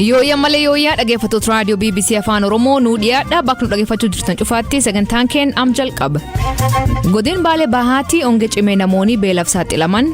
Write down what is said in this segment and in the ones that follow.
Yooyyaa malee yooyyaa dhaggeeffattoota raadiyoo BBC Afaan Oromoo nuu dhiyaadha bakka nu dhaggeeffachuu jirtan cufaatti sagantaan keenya am jalqaba. Godina Baalee Bahaatti onge cimee namoonni beelaaf saaxilaman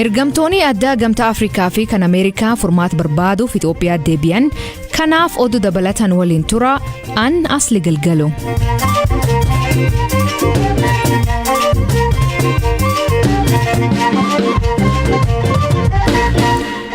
Ergamtoonni addaa Gamtaa Afrikaa fi kan Ameerikaa furmaata barbaaduuf Itoophiyaa deebi'an kanaaf oduu dabalatan waliin tura an asli galgalu.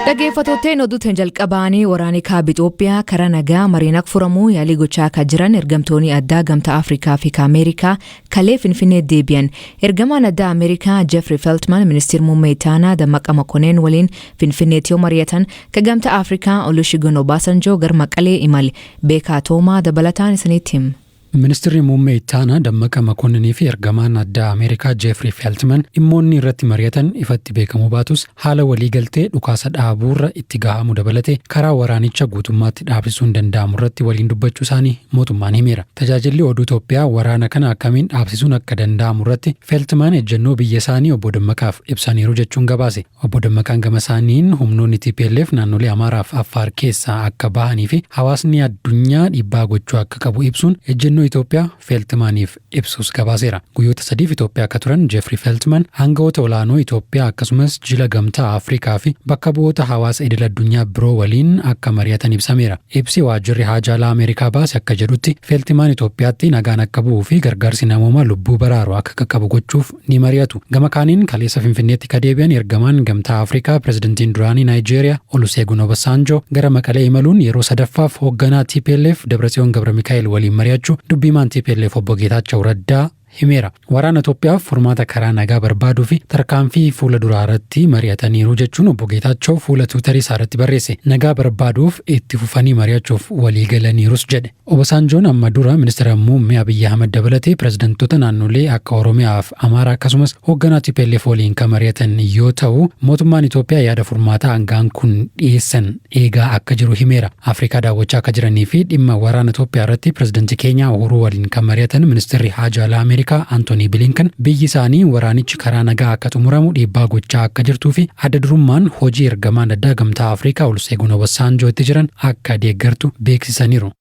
Dhaggeeffattootteen oduutiin jalqabaanii waraanni kaaba Itoophiyaa karaa nagaa mariin akka furamuu yaalii gochaa akka jiran ergamtoonni addaa Gamtaa Afrikaa fi Ameerikaa Kalee Finfinnee deebi'an. Ergamaan addaa Ameerikaa Jeffrey Feltman ministir muummee Itaanaa Dammaqa Makoneen waliin Finfinneetti yoo mari'atan, ka Gamtaa Afrikaa Olusegun Obasanjo gar Maqalee imale. Beekaa Toomaa dabalataan isinitti him. Ministirri Muummee Ittaanaa Dammaqa Makonninii fi Ergamaan Addaa Ameerikaa Jeefrii Feeltiman dhimmoonni irratti mari'atan ifatti beekamuu baatus, Haala waliigaltee dhukaasa dhaabuurra itti gahaamu dabalatee karaa waraanicha guutummaatti dhaabsisuun danda'amurratti waliin dubbachuusaanii mootummaan himeera. Tajaajilli Oduu Toophiyaa waraana kana akkamiin dhaabsisuun akka danda'amurratti Feltman ejjennoo biyyasaanii Obbo Dammaqaaf ibsaniiru jechuun gabaase. Obbo Dammaqaan gamasaaniin humnoonni tplf naannolee Amaaraaf Affaar keessaa akka bahaniifi hawaasni addunyaa dhiibbaa gochuu akka qabu ibsuun ejjennoo Itoophiyaa Feltmaniif ibsus gabaaseera. Guyyoota sadiif Itoophiyaa akka turan Jeffrey Feltman hanga'oota olaanoo Itoophiyaa akkasumas jila gamtaa Afrikaa fi bakka bu'oota hawaasa idil addunyaa biroo waliin akka mari'atan ibsameera. Ibsi waajjirri haajaa alaa Ameerikaa baase akka jedhutti Feltimaan Itoophiyaatti nagaan akka bu'uu fi gargaarsi namoomaa lubbuu baraaru akka qaqqabu gochuuf ni mari'atu. Gama kaaniin kaleessa Finfinneetti ka deebi'an ergamaan Gamtaa Afrikaa Pirezidantiin duraanii Naayijeeriyaa Oluseegun Obasaanjoo gara Maqalee imaluun yeroo sadaffaaf hoogganaa tplf Dabratsiyoon Gabramikaa'el waliin mari'achuu dubbi himaan tplf obbo Geetaachaw Raddaa himeera. Waraana Itoophiyaaf furmaata karaa nagaa barbaaduu fi tarkaanfii fuula duraa irratti mari'ataniiru jechuun obbo Geetaachaw fuula tiwutarii isaa irratti barreesse. Nagaa barbaaduuf itti fufanii mari'achuuf waliigalaniirus jedhe. Obasaanjoon amma dura Ministira Muummee Abiyyi Ahmad dabalatee pirezidantoota naannolee akka Oromiyaa fi Amaaraa akkasumas hoogganaa tplf waliin kan mari'atan yoo ta'u, mootummaan Itoophiyaa yaada furmaataa aanga'aan kun dhiyeessan eegaa akka jiru himeera. Afrikaa daawwachaa akka jiranii fi dhimma waraana Itoophiyaa irratti pirezidanti Keenyaa Uhuruu waliin kan mari'atan Ministirri Haajaa Alaa Ameerikaa Antonii Bilinkan biyyi isaanii waraanichi karaa nagaa akka xumuramu dhiibbaa gochaa akka jirtuu fi adda durummaan hojii ergamaan addaa Gamtaa Afrikaa Oluseegun Obasaanjoo itti jiran akka deeggartu beeksisaniiru. beeksisaniiru.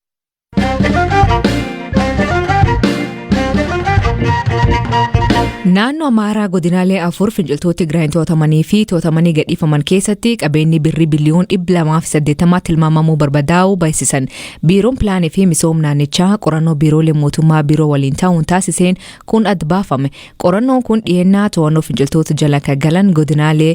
Naannoo Amaaraa godinaalee afur finciltoota Tigraayin to'atamanii fi to'atamanii gadhiifaman keessatti qabeenyi birrii biliyoon 280 tilmaamamuu barbadaa'uu beeksisan. Biiroon Pilaanii fi Misoom Naannichaa qorannoo biiroolee mootummaa biiroo waliin ta'uun taasiseen kun adda baafame. Qorannoon kun dhiyeenyaa to'annoo finciltoota jala kan galan godinaalee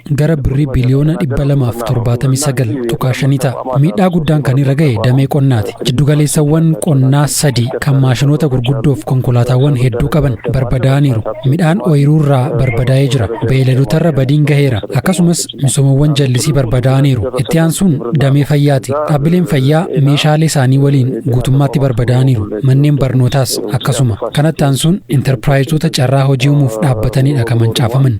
gara birrii biliyoona 279.5 ta'a. Miidhaa guddaan kan irra ga'e damee qonnaati. Jiddugaleessawwan qonnaa sadii kan maashinoota gurguddoof konkolaataawwan hedduu qaban barbadaa'aniiru. Midhaan ooyiruurraa barbadaa'ee jira. Beeyladotarra badiin gaheera. Akkasumas misoomawwan jallisii barbadaa'aniiru. Itti aansuun damee fayyaati. Dhaabbileen fayyaa meeshaalee isaanii waliin guutummaatti barbadaa'aniiru. Manneen barnootaas akkasuma. Kanatti aansuun intarpiraayizoota carraa hojii uumuuf dhaabbatanidha kan mancaafaman.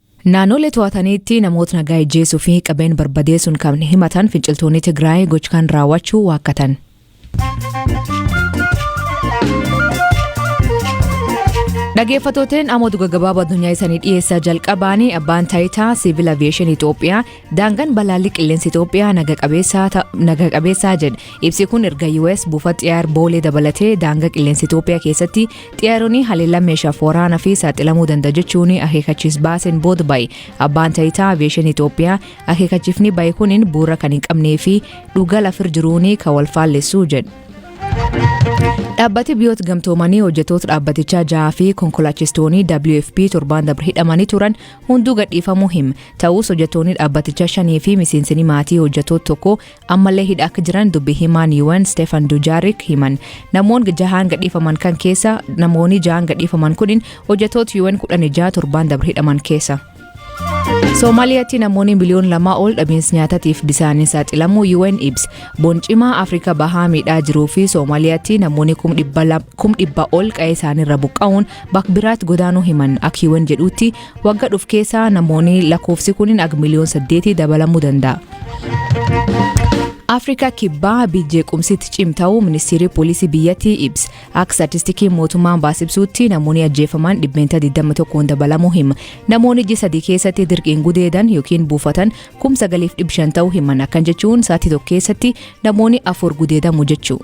Naanoolee to'ataniitti namoota nagaa ijjeesuu fi qabeen barbadeessuun kan himatan finciltoonni Tigraay gochkan raawwachuu waakkatan. Dhageeffatooteen ammoo dhuga gabaabaa addunyaa isaanii dhiyeessaa jalqabaanii abbaan taayitaa siivil aviyeeshinii Itoophiyaa Daangaan balaalli qilleensa Itoophiyaa naga qabeessaa ta- naga qabeessaa jedhe. Ibsi kun erga US buufata xiyyaar boolee dabalatee daangaa qilleensa Itoophiyaa keessatti xiyyaaronni haleellaa meeshaaf waraanaa fi saaxilamuu danda'a jechuun akeekkachiis baaseen booda bahe. Abbaan taayitaa aviyeeshin Itoophiyaa akeekkachiifni bahe kunin bu'uura kan hin qabnee fi dhugaa lafir jiruun kan wal faallessu jedhe. Dhaabbati biyyoota gamtoomanii hojjetoota dhaabbatichaa jahaa fi konkolaachistoonni WFP torbaan dabre hidhamanii turan hunduu gadhiifamuu hima. Ta'uus hojjatoonni dhaabbatichaa shanii fi miseensini maatii hojjatoota tokko ammallee hidha akka jiran dubbi himaan UN Stefan Dujaarik himan. Namoon jahaan gadhiifaman kan keessa namoonni jahaan gadhiifaman kunin hojjatoota UN kudhan ijaa torbaan dabre hidhaman keessa. Somaaliyaatti namoonni miliyoon lamaa ol dhabiinsa nyaatatiif bisaaniin saaxilamuu UN ibs. Boncimaa Afrikaa bahaa miidhaa jiruu fi Somaaliyaatti namoonni kum dhibba ol qa'ee isaaniirra buqqa'uun bakbiraatti godaanuu himan akka UN jedhuutti Wagga dhuf keessa namooni lakoofsi kunin ag miliyoon saddeeti dabalamu danda'a. Afrikaa kibbaa biyyee qumsitti cimta'uu ministeerri poolisii biyyattii ibs akka statistikiin mootummaan baasibsuutti namoonni ajjeefaman dhibbeentaa 21 dabalamuu hima namoonni iji sadii keessatti dirqiin gudeedan yookiin buufatan kum 9,500 ta'uu himan akkan jechuun sa'atii tokko keessatti namoonni afur gudeedamu jechuu.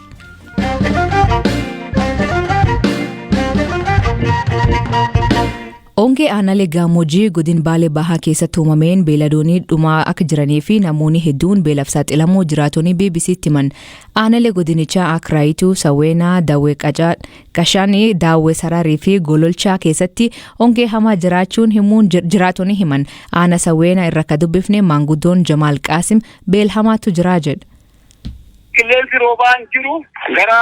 Ongee aanaalee Gaammoojjii godin Baalee Bahaa keessatti uumameen beeladoonii dhumaa akka jiranii fi namoonni hedduun beelaf saaxilamuu jiraatonni BBC'tti himan. Aanaalee godinichaa akka Raayituu, Sawweenaa, Dawwee Qacaa, Qashaanii, Daawwee Saraarii fi Gololchaa keessatti ongee hamaa jiraachuun himuun jir- jiraatonni himan. Aana Sawweenaa irra akka dubbifne maanguddoon Jamaal Qaasim beelhamaatu jiraa jedha. Qilleensi roobaan jiru gara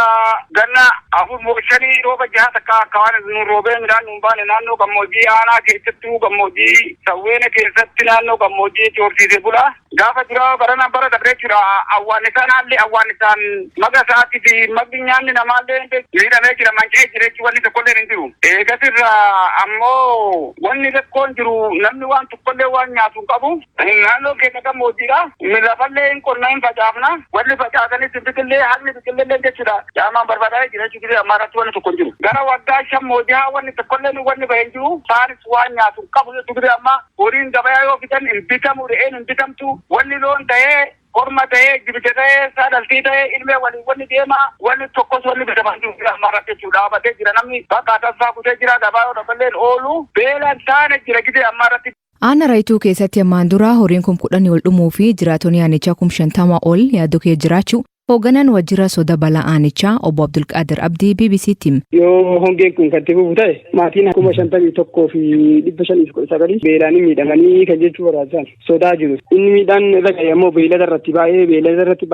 ganna afur moo shanii rooba jaha takka akka waan nuun roobee midhaan nuun baane naannoo gammoojjii aanaa keessattuu gammoojjii sawweena keessatti naannoo gammoojjiitti horsiisee bula. Gaafa duraa barana bara dabree jechuudha awwaannisaan haalli awwaannisaan maga isaatii fi magni nyaanni namaallee miidhamee jira manca'ee jira jechuun wanni tokkolleen hin jiru. Eegas irraa ammoo wanni rakkoon jiru namni waan tokkollee waan nyaatu hin qabu. Naannoon keenya gammoojjiidha. Lafallee hin qonna, hin facaafna. Wanni facaasaniis hin biqille, haqni biqillelleen jechuudha caamaan barbaadaa'ee jira jechuudha. Gizee ammaa irratti wanni tokko hin jiru. Gara waggaa shan moo jahaa wanni tokkolleen wanni bahe hin jiru. Isaanis waan nyaatu hin qabu jechuudha. Gizee ammaa horiin gabayaa yoo fidan hin bitamu, re'een hin bitamtu. Wanni loon tahee, korma tahee, jibija tahee, saa dhaltii tahee, ilmee waliin wanni deema. Wanni tokkos wanni bitama hin jiru gizee ammaa irratti jechuudha. Dhaabatee jira namni bakka atassaa kutee jira. Gabaa yoo dhaballeen oolu beelaan taana jira gizee ammaa irratti. Aanaa Rayituu keessatti ammaan dura horiin kum kudhanii ol dhumuu fi jiraatonni aanichaa kum shantama ol yaaddoo kee jiraachuu hoogganaan waajjira soda balaa aanichaa obbo Abdulqaadir Abdii BBC'tti hime. Yoo hongeen kun kan itti fufu ta'e maatiin kuma shantamii tokkoo fi dhibba shanii fi kudha sagalii beelaan miidhamanii kan jechuu barbaachisan sodaa jiru. Inni miidhaan irra ga'e ammoo beeylada irratti baay'ee beeylada irratti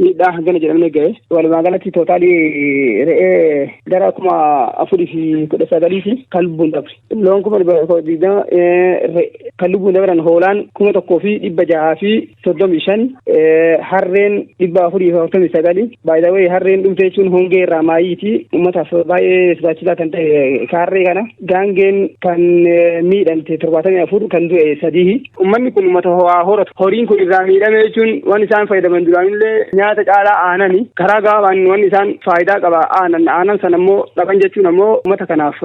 miidhaa hangana jedhamne ga'e walumaa galatti tootaalii re'ee gara kuma afurii fi kudha sagalii fi kan lubbuun dabre loon kuma digdama kan lubbuun dabran hoolaan kuma tokkoo fi dhibba jahaa fi soddomii shan harreen dhibba afurii fi afurtamii sagalii baay'ee harreen dhumte jechuun hongee irraa maayiiti uummataaf baay'ee sodaachisaa kan ta'e harree kana gaangeen kan miidhamte torbaatamii afur kan du'e sadii Uummanni kun uummata ho'aa horatu. Horiin kun irraa miidhame jechuun waan isaan fayyadaman duraanillee nyaata caalaa aanani. Karaa gabaabaan waan isaan faayidaa qaba aanan. Aanan sana immoo dhaban jechuun ammoo uummata kanaaf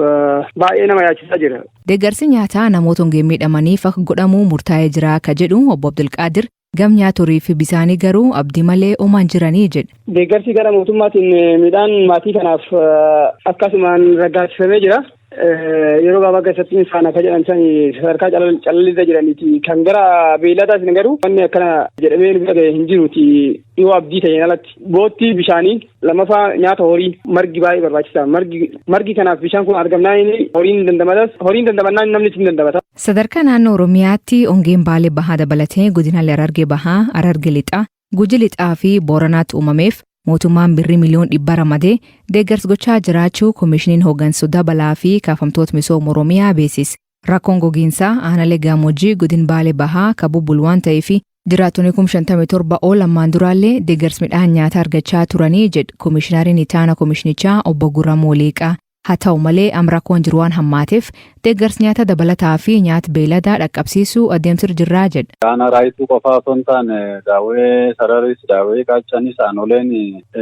baay'ee nama yaachisaa jira. Deeggarsi nyaataa namoota hongeen miidhamaniif akka godhamu murtaa'ee jira akka jedhu obbo Abdulqaadir gam nyaatorii fi bisaanii garuu abdii malee omaan jiranii jedhe. Deeggarsi gara mootummaatiin midhaan maatii kanaaf akkasumaan raggaasifamee jira. Yeroo gabaabaa keessatti isaan akka jedhan sani sadarkaa calallirra jiraniiti. Kan gara beelladaa isin garuu wanni akkana jedhamee nu bira hin jiruuti yoo abdii ta'een alatti. Boottii bishaanii lammaffaa nyaata horii margi baay'ee barbaachisa. Margi margi kanaaf bishaan kun argamnaan inni horiin dandamatas horiin dandamannaan namni ittiin dandamata. Sadarkaa naannoo Oromiyaatti ongeen Baalee Bahaa dabalatee godinaalee Harargee Bahaa, Harargee Lixaa, Guji Lixaa fi Booranaatti uumameef mootummaan birrii miliyoon dhibba ramadee deeggarsa gochaa jiraachuu Komiishiniin Hoggansoota Balaa fi Kaafamtoota Misooma Oromiyaa beeksise. Rakkoon gogiinsaa aanalee Gaamojii godin Baale Bahaa ka bubbulu waan ta'eef jiraattonni kum 57 ol ammaan duraallee deeggarsa midhaan nyaataa argachaa turanii jedh Komiishinariin Itaana Komiishinichaa obbo Gurramuu Liiqaa. Haa ta'u malee am rakkoon jiru waan hammaateef deeggarsi nyaata dabalataa fi nyaat beeyladaa dhaqqabsiisuu adeemsir jirraa jedh. Aanaa Raayituu qofaa osoo hin taane Daawwee Sararis, Daawwee Qaaccanis aanoleen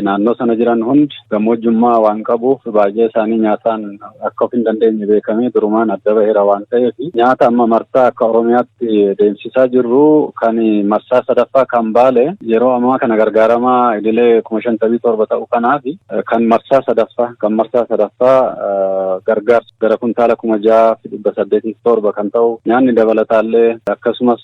naannoo sana jiran hundi gammoojjummaa waan qabuuf baay'ee isaanii nyaataan akka of hin dandeenye beekamee durumaan adda baheera waan ta'eef nyaata amma marsaa akka Oromiyaatti deemsisaa jirru kan marsaa sadaffaa kan baale yeroo ammaa kana gargaaramaa idilee kuma shantamii torba ta'u kanaafi Kan marsaa sadaffaa kan marsaa sadaffaa gargaarsa gara kuntaala kuma jaha fi dhibba saddeetii fi torba kan ta'u nyaanni dabalataallee akkasumas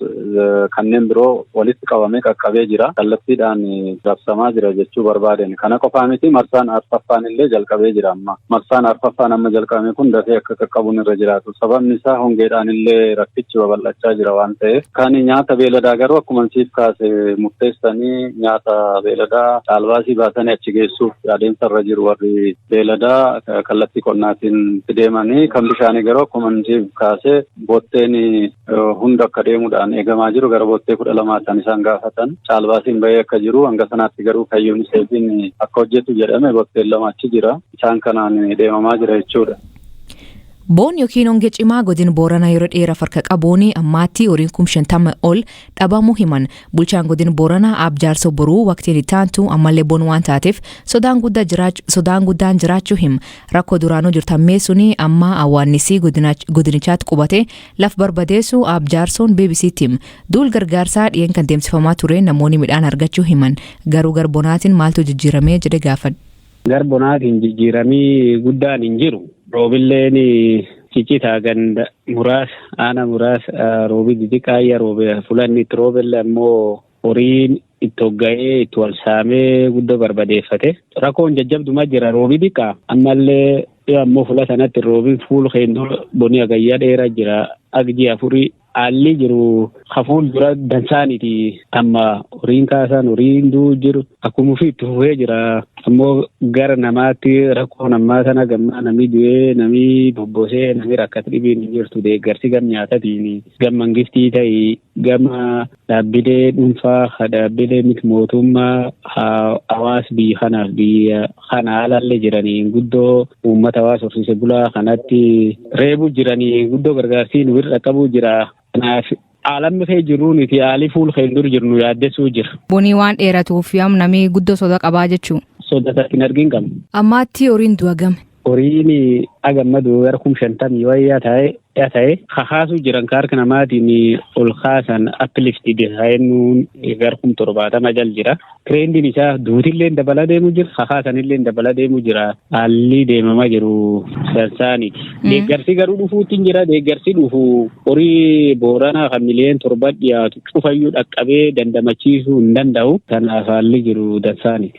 kanneen biroo walitti qabamee qaqqabee jira. Kallattiidhaan rabsamaa jira jechuu barbaadeen kana qofaa miti marsaan arfaffaan illee jalqabee jira amma marsaan arfaffaan amma jalqabame kun dafee akka qaqqabuun irra jiraatu. Sababni isaa hongeedhaan illee rakkichi babal'achaa jira waan ta'eef. Kan nyaata beeladaa garuu akkuma siif kaase murteessanii nyaata beeladaa caalbaasii baasanii achi geessuuf adeemsa irra jiru warri beeladaa kallattii qonnaatiin itti deemanii kan bishaanii garuu akkuma siif kaase botteen hunda akka deemuudhaan eegamaa jiru gara bottee kudha lamaa kan isaan gaafatan caalbaasiin bahee akka jiru hanga sanaatti garuu kan yuuniseefiin akka hojjetu jedhame botteen lama achi jira isaan kanaan deemamaa jira jechuudha. Boon ykn honge cimaa godin Boorana yero dheeraf harka qabuun ammaatti horiin kum 50 ol dhabamu himan. Bulchaan godin Boorana Aab Jaarsoo Boruu waqtiin itti aantu ammallee boon waan taateef sodaan guddaa jiraach sodaan guddaan jiraachuu him. Rakkoo duraanuu jirtu hammeessuun amma awwaannisii godinach- godinichaatti qubate laf barbadeessu Aab Jaarsoon BBC'tti him. Duul gargaarsaa dhiyeen kan deemsifamaa ture namoonni midhaan argachuu himan. Garuu gar bonaatiin maaltu jijjiiramee jedhe gaafadhe. Gar bonaatiin jijjiiramii guddaan hin jiru. Roobilleen ciccitaa ganda muraasa aana muraasa roobii xixiqqaa ayya roobe fulanni itti roobelle ammoo horiin itti hogga'ee itti wal saamee guddoo barbadeeffate. Rakkoon jajjabduma jira roobii xiqqaa ammallee yoo ammoo fula sanatti roobiin fuul keendoo bonii agayyaa dheeraa jira agji afurii Haalli jiru ka fuuldura dansaaniti. Amma horiin kaasaan horiin du'u jiru akkuma ofii itti fufee jira. Ammoo gara namaatti rakkoon ammaa tana gammaa namni du'ee namni bobbosee namni rakkate dhibiin hin jirtu deeggarsi gam nyaatatiin gam mangiftii ta'ii gama Dhaabbilee dhunfaa, ha dhaabbilee mit mootuummaa, ha hawaas biyyi kanaaf biyya kana alaalle jiranii guddoo uummata hawaas horsiise bulaa kanatti reebuu jiranii guddoo gargaarsii nu bira dhaqqabuu jira. Kanaaf aalammi kee jirruu nuti aalii fuul keen dur jirnu yaaddessuu jira. Bonii waan dheeratuuf yaam namii guddoo soda qabaa jechuu. Soda takka hin argin qabna. Ammaatti horiin du'a game. horiin agammaduu gara kum shantamii wayyaa ta'e ta'e kakaasuu jiran ka harka namaatiin ol kaasan uplifted kaa'ennuun gara kum torbaatama jal jira. Tireendiin isaa duutillee dabala deemuu jira kakaasanillee dabala deemuu jira haalli deemamaa jiru sansaaniti. Deeggarsi garuu dhufuutti jira deeggarsi dhufu horii booranaa kan miliyoon torba dhiyaatu cufayyuu dhaqqabee dandamachiisuu hin danda'u kanaaf haalli jiru dansaaniti.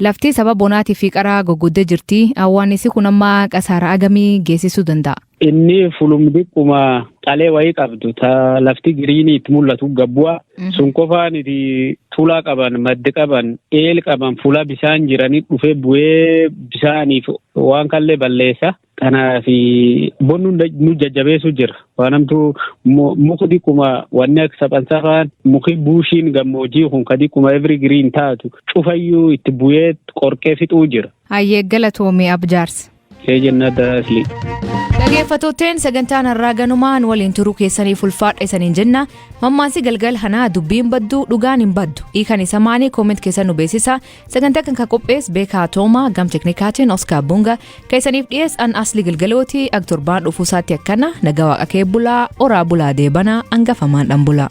Laftii saba bonaatii fi qaraa goggodde jirti. Awwaannissi kun amma qasaara agamii geessisuu danda'a? Inni fulum diqquma calee wayii qabdu ta lafti giriinii itti mul'atu gabbu'a. Sun qofaaniti tulaa qaban, maddi qaban, eel qaban, fulaa bisaan jiranii dhufee bu'ee bisaaniif waan kallee balleessa. Kanaaf bonnu nu jajjabeessu jira. Waan hamtuu muka diqquma wanni akka saphansaa fa'aan muki buushiin gammoojii kun ka diqquma every green taatu cufayyuu itti bu'ee qorqee fixuu jira. Hayyee galatoomii abjaarsa. Ee jennaa daasli. Dhageeffattootteen sagantaan har'aa ganumaan waliin turuu keessaniif ulfaadha isaniin jenna. Mammaansi galgal hanaa dubbiin baddu dhugaan hin baddu. Hiikan isa maanii kooment keessa nu beeksisa. Sagantaa kan kan qophees Beekaa Toomaa gam teknikaatiin Oskaar Bunga keessaniif dhiyees an asli gilgalooti ag torbaan dhufuu isaatti akkana nagaa waaqa kee bulaa oraa bulaa deebanaa angafamaan dhan bulaa.